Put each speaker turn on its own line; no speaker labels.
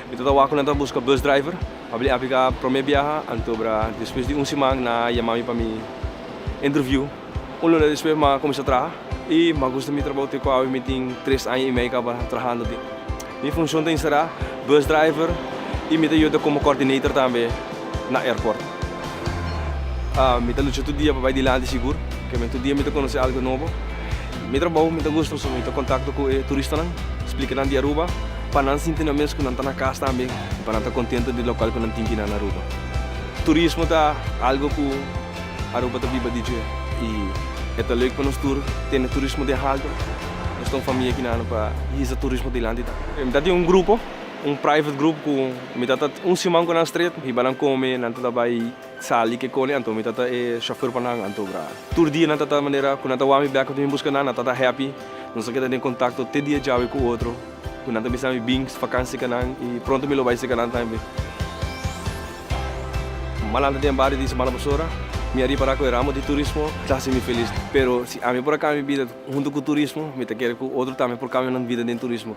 Mi ta tawá ku nan ta buska bus driver pa bini apliká promé biaha anto bra despues di un siman nan a yama mi pa mi interviu un luna despues m'ha kuminsá traha i m'ha gusta mi trabou te ku awe mi tin tres aña i mei kaba trahando tin mi funshon ta enserá bus driver i mi ta yuda komo kòrdinator tambe na airport. Mi ta lucha tur dia pa bai dilanti sigur, p'esei tur dia mi ta konosé algu nobo. Mi trabou mi ta gusta pasobra mi ta kontakto ku e turistanan, splika nan di Aruba pa nan sinti nan mes ku nan ta na kas tambe i pa nan ta kontentu di lokal ku nan tin bina na Aruba. Turismo ta algu ku Aruba ta biba di dje i e ta lek pa nos tur tene turismo den haltu. Nos ta un famia kinan pa hisa turismo dilanti ta. Mi ta tin un grupo Un private group cu mi ta ta un siman cu nan stret hiba nan come nan ta ta bay sali ke cone anto mi ta ta e chauffeur pa nan anto bra tur dia nan ta ta manera cu nan ta wami bek ato mi busca nan nan ta ta happy nos a keda den contacto te dia djawe cu otro cu nan ta bisa mi bin vakansi ca nan y pronto mi lo bay si ca nan tambe. Malandra den bario di semana pasora mi a ripara cu e ramo di turismo ta haci mi feliz pero si ami por a cambia bida hunto cu turismo mi ta kere cu otro tambe por cambia nan bida den turismo.